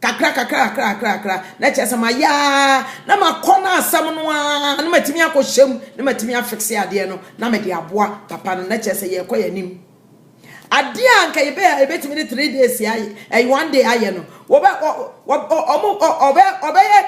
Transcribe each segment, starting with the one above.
kakra kakra kakra kakra kakra na kyerɛ sɛ mayɛ a na makɔ no asɛm no a na matumi akɔhyɛ mu na matumi afikse adeɛ no na mede aboa papa no na kyerɛ sɛ yɛrekɔ yɛn anim adeɛ a nka yɛbɛ yɛbɛtumi de three days ayɛ ɛyɛ one day ayɛ no wɔbɛ ɔmo ɔbɛ ɔbɛyɛ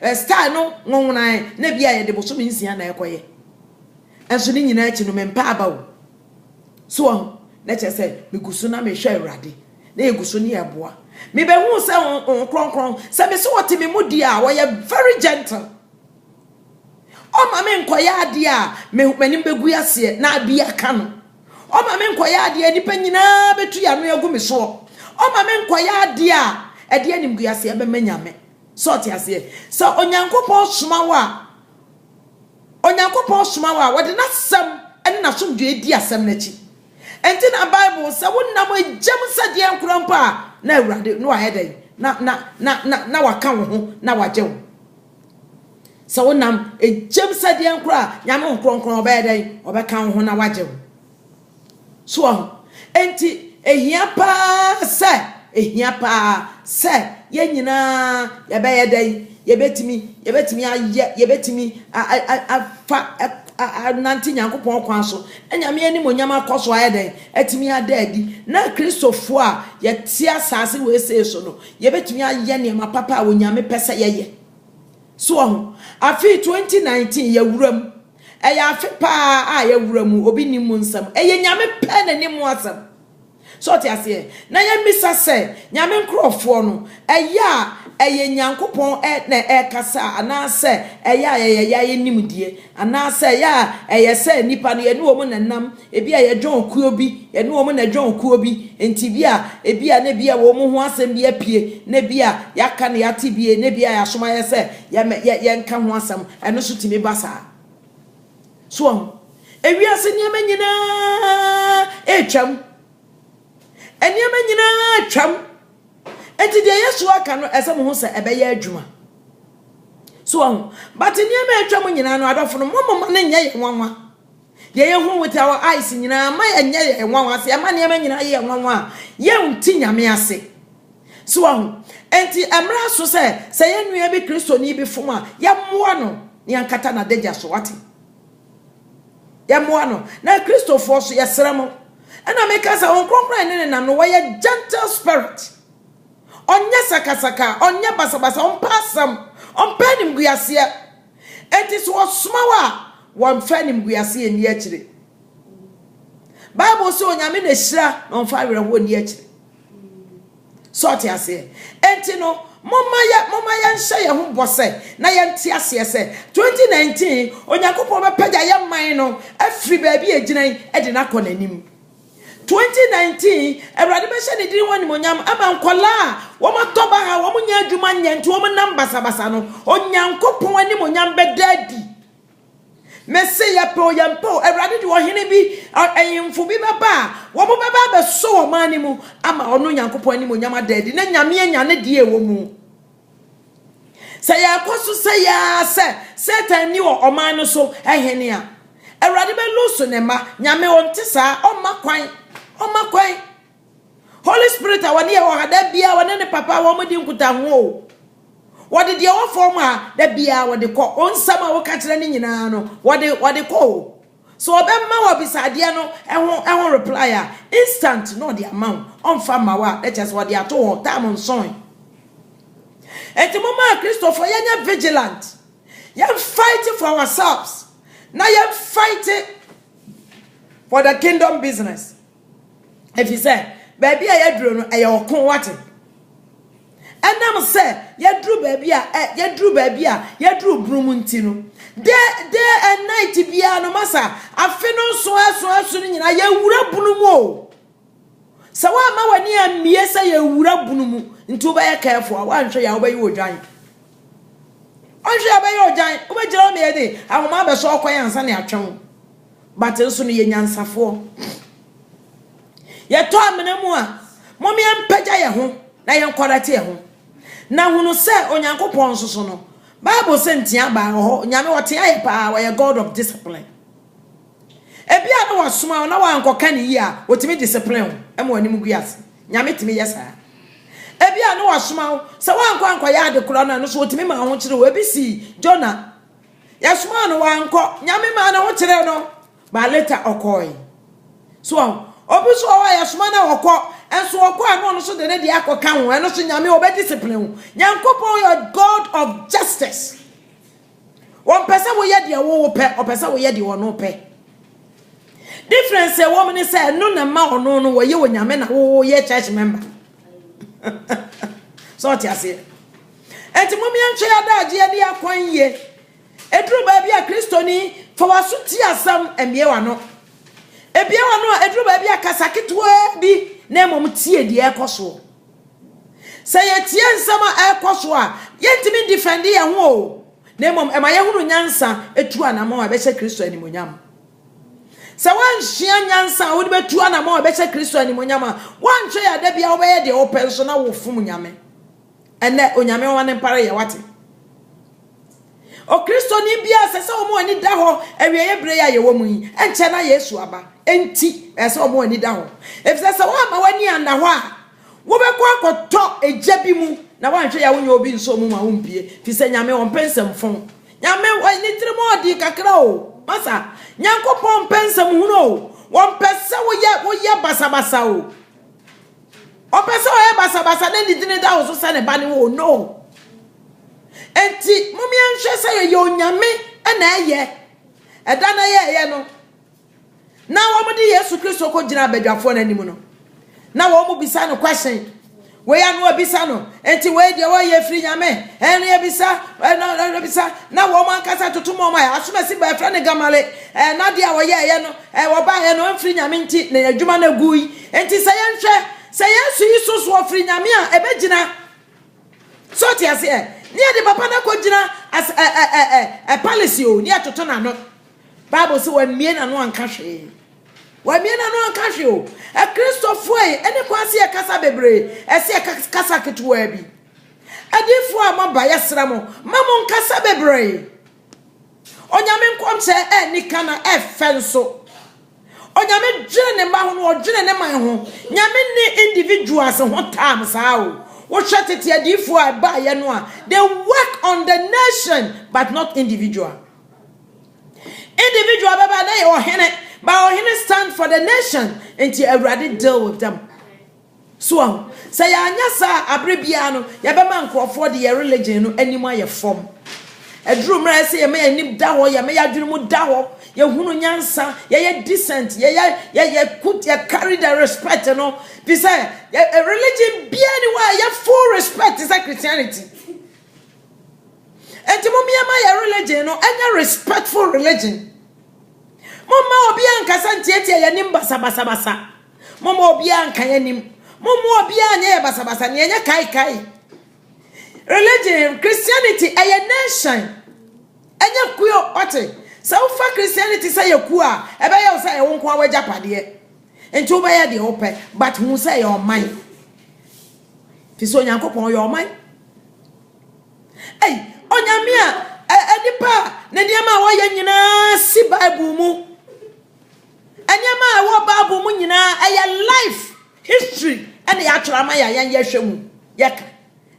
ɛɛ style no nwonwonan na bi a yɛde bosome nsia na ɛkɔyɛ nso ne nyinaa akyi no mempɛ aba o so ɔho na kyerɛ sɛ megu so na mehwɛ awurade na yɛgu so ne yɛ boa mebɛhuu sɛ Honhom Kronkron sɛ me sɛ ɔte me mu deɛ a ɔyɛ very gentle ɔma me nkɔyɛ adeɛ a m'anim bɛgu aseɛ na abi aka no ɔma me nkɔyɛ adeɛ a nnipa nyinaa bɛtu yɛ ano agu me soɔ ɔma me nkɔyɛ adeɛ a ɛde animguaseɛ bɛma nyame sɛ ɔte aseɛ sɛ onyankopɔn soma wo a onyankopɔn soma wo a wɔde n'asɛm ne n'asomdwoeɛ di asɛm no akyi Enti na Bible sɛ wonam agyam sɛdeɛ nkora mpo a, na Awurade na wayɛ dɛn? Na, na, na, na, na waka wo ho na wagye wo. Sɛ wonam agyam sɛdeɛ nkora a, Nyame wo kronkron ɔbɛyɛ dɛn? Ɔbɛka wo ho na wagye wo. So wahu? Enti ehia paa sɛ, ehia paa sɛ yɛn nyinaa yɛbɛyɛ dɛn? Yɛbɛtumi, yɛbɛtumi ayɛ, yɛbɛtumi afa anante Nyankopɔn kwan so, na Nyame animuonyam akɔ so ayɛ dɛn? Atumi ada adi. Na Kristofo a yɛte asase wesee so no, yɛbɛtumi ayɛ nneɛma papa a Onyame pɛ sɛ yɛyɛ. So wahu? Afei 2019 yɛawura mu. Ɛyɛ afe paa a yɛawura mu, obi nnim mu nsɛm. Ɛyɛ Nyame pɛ n'anim asɛm. So wote aseɛ? Na yɛmmisa sɛ, Nyame nkorɔfoɔ no, ɛyɛ a ɛyɛ Nyankopɔn na ɛrekasa a, anaasɛ ɛyɛ a yɛyɛ yɛn ara yɛn nimdeɛ? Anaasɛ ɛyɛ a ɛyɛ sɛ nnipa no, yɛne wɔn na ɛnam, ebi a yɛdwɔn kuo bi, yɛne wɔn na ɛdwɔn kuo bi, enti bi a, ebi a na ebi a wɔn ho asɛm bi apue, na ebi a yɛaka na yɛate bi, na ebi a yɛasoma yɛn sɛ yɛmɛ, yɛ, yɛnka ho asɛm. Ɛno nso tumi ba saa. So wahu? Ewiase nneɛma nyinaa retwam. Nneɛma nyinaa retwam. Enti deɛ Yesu aka no, ɛsɛ mo ho sɛ ɛbɛyɛ adwuma. So wahu? But nneɛma a atwam nyinaa no, adɔfo no, mo moma no nyɛ yɛn nwanwa. Deɛ yɛhu with our eyes nyinaa, ma yɛnyɛ yɛn nwanwa. Sɛ yɛma nneɛma nyinaa yɛ yɛn nwanwa a, yɛnte Nyame ase. So wɔahu? Enti ɛmmra so sɛ, sɛ yɛn nua bi Kristoni bi fom a, yɛmmoa no na yɛnkata n'adagya so. Wate? Yɛmmoa no. Na Kristofoɔ nso, yɛsrɛ mo. Ɛna meka sɛ, Honhom Kronkron ne nenam no, wɔyɛ gentle spirit. Ɔnyɛ sakasaka, ɔnyɛ basabasa, ɔmpɛ asɛm, ɔmpɛ animguaseɛ. Enti sɛ wɔsoma wo a, wɔmfa animguaseɛ nni akyire. Bible se, Onyame na hyira na ɔmfa awerɛhoɔ nni akyire. So ɔte aseɛ? Enti no, momma yɛ momma yɛnhyɛ yɛn ho bɔ sɛ na yɛnte aseɛ sɛ 2019 Onyankopɔn bɛpagya yɛn man no afiri baabi a egyina yi de no akɔ n'anim. 2019 Awurade bɛhyɛ ne din ho animonyam ama nkɔlaa a wɔn atɔ baha wɔn nyɛ adwuma nyɛ nti wɔn nam basabasa no Onyankopɔn animonyam bɛda adi. Mese yɛpɛ o yɛmpɛ o, Awurade de ɔhene bi, ahemfo bi bɛba a, wɔn bɛba abɛsɔ wɔ ɔman no mu ama ɔno Nyankopɔn anim onyam ada adi na Nyame anya ne deɛ ɛwɔ mu. Sɛ yɛkɔ so sɛ yɛa sɛ Satan ni wɔ ɔman no so ahene a, Awurade bɛlusu ne mma. Nyame ɔnte saa, ɔmma kwan, ɔmma kwan. Holy Spirit a wɔde yɛ hɔ ha da biara wɔne ne papa wɔn di nkutaho o. Wɔde deɛ ɛwɔ fam ha da biara wɔde kɔ. Wɔn nsɛm a wɔka kyerɛ ne nyinaa no wɔde wɔde kɔ o. So ɔbɛma wɔ abisadeɛ no ɛho ɛho reply a instant na ɔde ama wo. Ɔmfa ma wo a na kyerɛ sɛ ɔde ato hɔ time nson. Eti mo maa Kristofo yɛnyɛ vigilant. Yɛn fight for ourselves na yɛn fight for the kingdom business. Ɛfiri sɛ, baabi a yɛaduro no, ɛyɛ ɔko, wate. Ɛnam sɛ yɛduru baabi a ɛ yɛduru baabi a yɛduru bunu mu nti no, de de and night biara no masa afe no nso ɛso ɛso no nyinaa yɛwura bunu mu o. Sɛ woamma w'ani ammie sɛ yɛwura bunu mu nti wobɛyɛ careful a woanhwɛ yɛ a wobɛyɛ odwan. Ɔnhwɛ yɛ wobɛyɛ odwan, wobɛgyina hɔ na yɛde ahoma abɛsɔ ɔkwan ansa na yɛatwe wo. But nso no yɛ nyansafoɔ. Yɛtɔ amena mu a, mom yɛmpagya yɛn ho na yɛn kɔrɛte yɛn ho. Na hunu sɛ Onyankopɔn nso so no, Bible sɛ ntea baa wɔ hɔ, Nyame ɔtea yɛ paa, ɔyɛ God of discipline. Ebia na wasoma wo na wankɔka ne yie a, ɔtumi discipline wo ma w'anim gu ase. Nyame tumi yɛ saa. Ebia na wasoma wo, sɛ wankɔ ankɔyɛ ade korɔ no a, no so ɔtumi ma ahokyere wo. Ebi sii Jonah. Yɛsomaa no, wankɔ. Nyame maa ne ho kyerɛɛ no, but later ɔkɔɔe. So ɔho? Obi nso wɔ hɔ a yɛsoma no a ɔkɔ, nso ɔkɔ a na ɔno nso de ne deɛ akɔka ho, ɛno nso Nyame ɔbɛ discipline wo. Nyankopɔn yɛ God of justice. Ɔmpɛ sɛ woyɛ deɛ wo wopɛ, ɔpɛ sɛ woyɛ deɛ ɔno pɛ. Difference a ɛwɔ mu ne sɛ ɛno na ɛma ɔno no wɔyɛ Onyame na woyɛ church member. Sɛ ɔte aseɛ? Enti mom yɛntwɛn adagye adi akwan yie. Ɛduru baabi a Kristoni, fa w'aso tie asɛm, mmue w'ano. Bue w'ano a, ɛduru baabi a kasa ketewaa bi na mmom tie deɛ ɛrekɔ soɔ. Sɛ yɛtie nsɛm a ɛrekɔ soɔ a, yɛntumi ndifɛnde yɛn ho o, na mmom ɛma yɛhunu nyansa tu anammɔn a ɛbɛhyɛ Kristo animuonyam. Sɛ woannsua nyansa a wode bɛtu anammɔn a ɛbɛhyɛ Kristo animuonyam a, woantwɛn a da biara wobɛyɛ deɛ wopɛ nso na wofom Nyame. Ɛnnɛ, Onyame Nwa no mpo ara yɛ, woate? O Kristoni biara, ɛsɛ sɛ wɔn ani da hɔ, awieeɛ berɛ yi a yɛwɔ mu yi, ɛnkyɛ na Yesu aba. Enti, ɛsɛ sɛ wɔn ani da hɔ. Efisɛ sɛ woamma w'ani anna hɔ a, wobɛkɔ akɔtɔ egya bi mu, na woanhwɛ yi a wonyɛ obi nsɔɔ mu ma wompue, efisɛ Nyame ɔmpɛ nsɛmfon. Nyame wɔ ne tirim ɔɔden kakra o, masa. Nyankopɔn mpɛ nsɛmhunu o, wɔmpɛ sɛ woyɛ woyɛ basabasa o. ɔpɛ sɛ ɔyɛ basabasa na ne dini da wo so sɛ ne ba ne wo no enti mom yɛnhwɛ sɛ yɛyɛ onyame na ɛyɛ ɛda na yɛyɛ no na wɔn de yesu kristo kɔ gyina abadwafoɔ no anim no na wɔn mo bisa no question wei ano abisa no enti wei deɛ wɔyɛ firi nyame ɛne abisa ɛna abisa na wɔn ankasa toto mɔm a asomasi bɛfrɛ ne gamale ɛna deɛ wɔyɛ ɛyɛ no Ɛ, wɔbaeɛ no, ɛmfiri Nyame nti na adwuma no aguui. Enti sɛ yɛnhwɛ, sɛ Yesu yi so soɔ firi Nyame a, ɛbɛgyina. So wote aseɛ? Ne yɛde papa no akɔgyina as ɛ, ɛ, ɛ, ɛ, ɛ, palisi o, ne yɛtoto n'ano. Bible se wammue n'ano anka hwee. Wammue n'ano anka hwee o. Akristofoɔ yi, ɛne kwan se yɛkasa bebree, ɛse yɛka kasa ketewaa bi. Adiyifoɔ a moaba, yɛsrɛ mo, mma monkasa bebree. Onyame nkɔmhyɛ ɛnni ka na ɛfɛ nso. Onyame dwene ne mma ho no ɔdwene ne man ho. Nyame nni individuals ho time saa o. Wohwɛ tete adiifoɔ a ɛbaeɛ no a, they work on the nation but not individual. Individual bɛba na yɛ ɔhene, but ɔhene stand for the nation, nti Awurade deal with them. So wahu? Sɛ yɛanyɛ saa a, bere biara no, yɛbɛma nkurɔfoɔ de yɛn religion no anim ayɛ fam. Ɛduru mmerɛ a ɛsɛ sɛ yɛma yɛn anim da hɔ, yɛma yɛn adwene mu da hɔ, yɛhunu nyansa, yɛyɛ decent, yɛyɛ, yɛ, yɛ put, yɛ carry the respect no. Fi sɛ, yɛ, ɛ, religion biara ni hɔ a ɛyɛ full respect te sɛ Christianity. Enti mom yɛma yɛ religion no ɛnyɛ respectful religion. Momma obiara nkasa ntiatia yɛn anim basabasabasa. Momma obiara nka yɛn anim. Momma obiara nyɛ yɛn basabasa. Nea ɛnyɛ kaekae. Religion, Christianity, ɛyɛ nation. Ɛnyɛ kuo, ɔte. Sɛ wofa Christianity sɛ yɛ kuo a, ɛbɛyɛ wo sɛ ɛyɛ wo nko ara w'agyapadeɛ. Nti wobɛyɛ deɛ wopɛ, but hu sɛ ɛyɛ ɔman. Fi sɛ Onyankopɔn ɔyɛ ɔman. Ei, Onyame a, ɛ, nipa a, ne nneɛma a wɔyɛ nyinaa si Bible mu. Nneɛma a ɛwɔ Bible mu nyinaa, ɛyɛ life history na yɛatwerɛ ama yɛn a yɛn yɛhwɛ mu yɛka.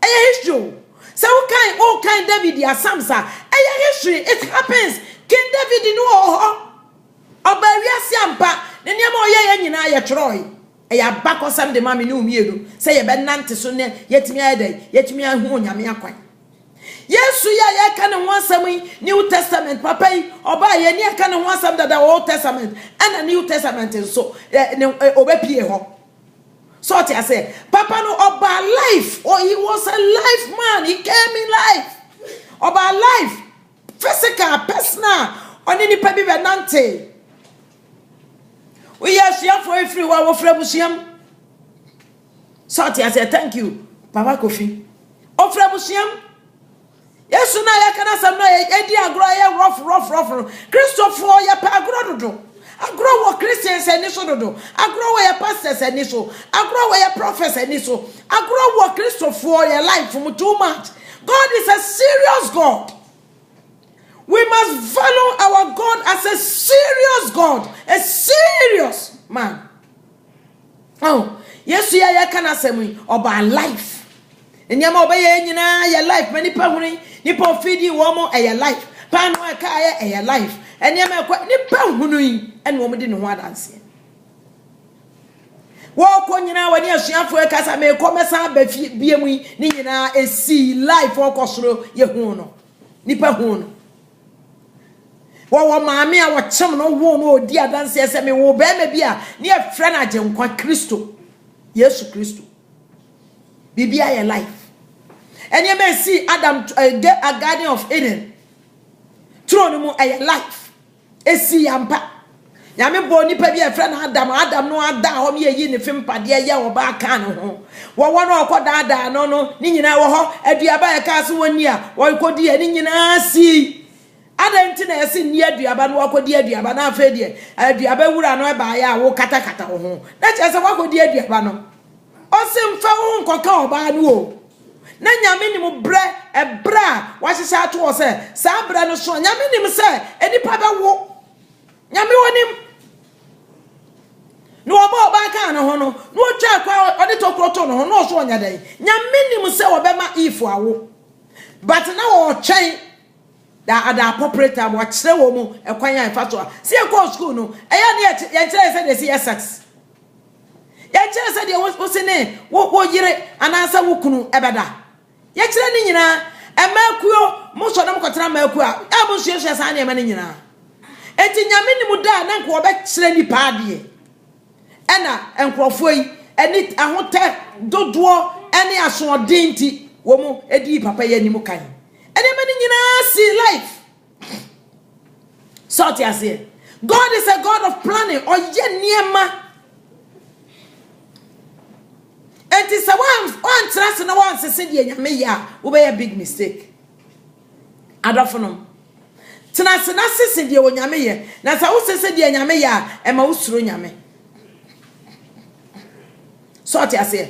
Ɛyɛ history o. Sɛ wokan wokan David a Psalms a, ɛyɛ history, it happens. King David no wɔ hɔ. Ɔbaa wiase ampa, ne nneɛma a ɔyɛeɛ nyinaa yɛtwerɛe. Ɛyɛ abakɔsɛm de ma me ne wo mmienu sɛ yɛbɛnante so na yɛatumi ayɛ dɛn? Yɛatumi ahu Onyame akwan. Yesu yi a yɛreka ne ho asɛm yi, New Testament papa yi, ɔbaa yɛn ni yɛka ne ho asɛm dada Old Testament, ɛna New Testament nso, ne ɔbɛpie hɔ. So ɔte ase, papa no ɔbaa life, oh, he was a life man, he came in life. Ɔbaa life, physical, personal, ɔne nipa bi bɛ nante. Woyɛ asuafoɔ efiri hɔ a wɔfiri abusua mu. So ɔte aseɛ? Thank you Papa Kofi. Ɔfiri abusua mu. Yesu no a yɛka n'asɛm no a yɛdi agorɔ a ɛyɛ rough rough rough no, Kristofoɔ yɛpɛ agorɔ dodo. Agorɔ wɔ Christians ani so dodo. Agorɔ wɔ yɛ pastors ani so. Agorɔ wɔ yɛ prophets ani so. Agorɔ wɔ Kristofoɔ yɛ life mu too much. God is a serious God. We must value our God as a serious God, a serious man. Oh, Yesu yi a yɛka n'asɛm yi, ɔbaa life. Nneɛma ɔbɛyɛ nyinaa yɛ life. Ma nipa huni, nipa ofidi wɔn mo ɛyɛ life. Paano a ɛka ayɛ ɛyɛ life. Nneɛma ɛkɔ nipa hunu yi ɛna wɔn di ne ho adanseɛ. Wɔkɔ nyinaa wɔne asuafoɔ ɛka sa mekɔ mɛsan aba fie bie mu yi ne nyinaa esi life ɔkɔ soro yɛ hu no. Nipa hu no. Wɔwɔ maame a wɔkyem no woo no ɔdi adanseɛ sɛ mewoo bɛrima bi a ne yɛfrɛ no Agyenkwa Kristo, Yesu Kristo. Biribi ayɛ life. Nneɛma ɛsii Adam eh, a Garden of Eden turo no mu ɛyɛ life. Ɛsii ampa. Nyame bɔɔ nipa bi a yɛfrɛ no Adam, Adam no ara daa hɔ no yɛyii ne fempadeɛ yɛ ɔbaa kaa ne ho. Wɔwɔ no a ɔkɔ daadaa no no, ne nyinaa ɛwɔ hɔ. Aduaba a yɛkaa sɛ wɔnni a, ɔkɔdii a ne nyinaa sii. Adɛn nti na yɛse nni aduaba no wakɔdi aduaba na afei deɛ aduaba wura no ɛbaeɛ a wokatakata wo ho? Na kyerɛ sɛ wakɔdi aduaba no. Ɔse mfa wo ho nkɔka ɔbaa no o. Na Nyame nim berɛ, ɛberɛ a wahyehyɛ ato hɔ sɛ saa berɛ no so a Nyame nim sɛ nnipa bɛwo. Nyame wonim. Na wɔbɔ ɔbaa kaa ne ho no, na ɔtwa akwa ɔde tokuro to ne ho, na ɔso ɔnya dɛn? Nyame nim sɛ wɔbɛma Eve awo. But na wɔretwɛn da at the appropriate time, wakyerɛ wɔn mu ɛkwan a ɛfa so a. Sɛ yɛkɔɔ school no, ɛyɛ a na yɛnkyerɛ yɛn sɛ deɛ ɛsi yɛ sex. Yɛnkyerɛ sɛ deɛ wo se ne wo yere anaasɛ wo kunu ɛbɛda. Yɛkyerɛ ne nyinaa. Ɛmaakuo, mo sɔre na mo kɔtena amaakuo a, a mo nsuasua saa nneɛma no nyinaa. Enti Nyame nim da a na nka wɔbɛkyerɛ nnipa adeɛ. Ɛna nkorɔfoɔ yi, ani, ahotɛ dodoɔ ne asoɔden nti, wɔn dii papa yi anim kan. Nneɛma no nyinaa sii life. So ɔte aseɛ? God is a God of planning. Ɔyɛ nneɛma. Enti sɛ woantra ase na woansese deɛ Nyame yɛ a, wobɛyɛ big mistake. Adɔfo nom, tena ase na sese deɛ Onyame yɛ. Na sɛ wosese deɛ Nyame yɛ a, ɛma wosuro Nyame. So ɔte aseɛ?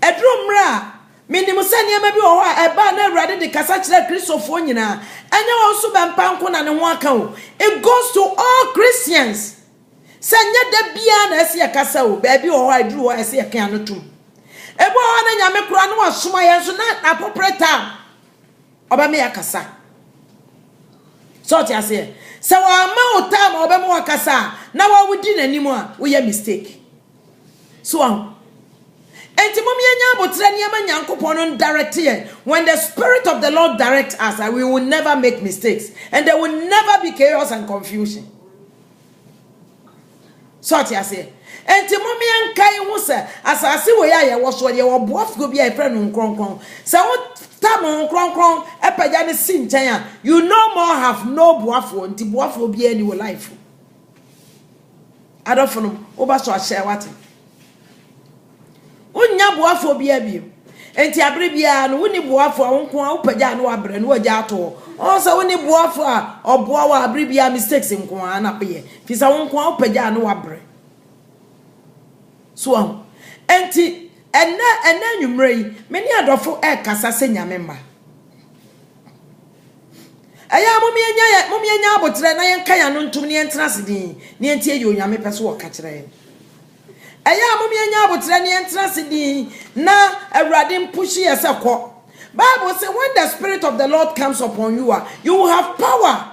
Ɛduru mmerɛ a Menim sɛ nneɛma bi wɔ hɔ a ɛbaa na Awurade de kasa kyerɛɛ Kristofoɔ nyinaa. Ɛnyɛ wɔn so bɛmpa nko na ne ho aka o. It goes to all Christians. Sɛ nyɛ da biara na ɛse yɛkasa o, baabi wɔ hɔ a ɛduru hɔ a ɛse yɛka ano tom. Ebi wɔ hɔ a na Nyame koraa na wasoma yɛn nso na apopere tam ɔbɛma yɛakasa. Sɛ ɔte aseɛ? Sɛ wamma wo tam a ɔbɛma wakasa a na wawodi n'anim a woyɛ mistake. So wahu? Enti mom yɛnyɛ aboterɛ ne yɛma Nyankopɔn no ndirect yɛn, when the spirit of the Lord direct us a, we will never make mistakes and there will never be chaos and confusion. So ɔte aseɛ? Enti mom yɛnkae ho sɛ asase wei a yɛwɔ soɔ deɛ wɔ boafuo bi a yɛfrɛ no Nkronkron. Sɛ wo tam ho Nkronkron pagya no si nkyɛn a, you no more have no boafoɔ, nti boafoɔ biara ni wo life mu. Adɔfo nom, woba so ahyɛ wate. Wonnya boafoɔ biaa bio. Enti abere biaa no, wonni boafoɔ a wo nko ara wopagyaa no wabrɛ no wagya ato hɔ. Ɔho sɛ wonni boafoɔ a ɔboa wo a abere biaa mistakes nko ara na woyɛ. Firi sɛ wo nko ara wopagyaa no wabrɛ. So wahu? Enti, ɛnɛ, ɛnɛ anwummerɛ yi, me ne adɔfo ɛɛkasa sɛ Nyame mma. Ɛyɛ a mom yɛnya yɛ, mom yɛnya aboterɛ na yɛnka yɛn ano ntom na yɛntena ase din na yɛntie deɛ Onyame pɛ so ɔka kyerɛ yɛn. Ɛyɛ a mom yɛnya aboterɛ na yɛntena ase din na Awurade mpuhye yɛ sɛ kɔ. Bible se when the spirit of the Lord comes upon you a, you will have power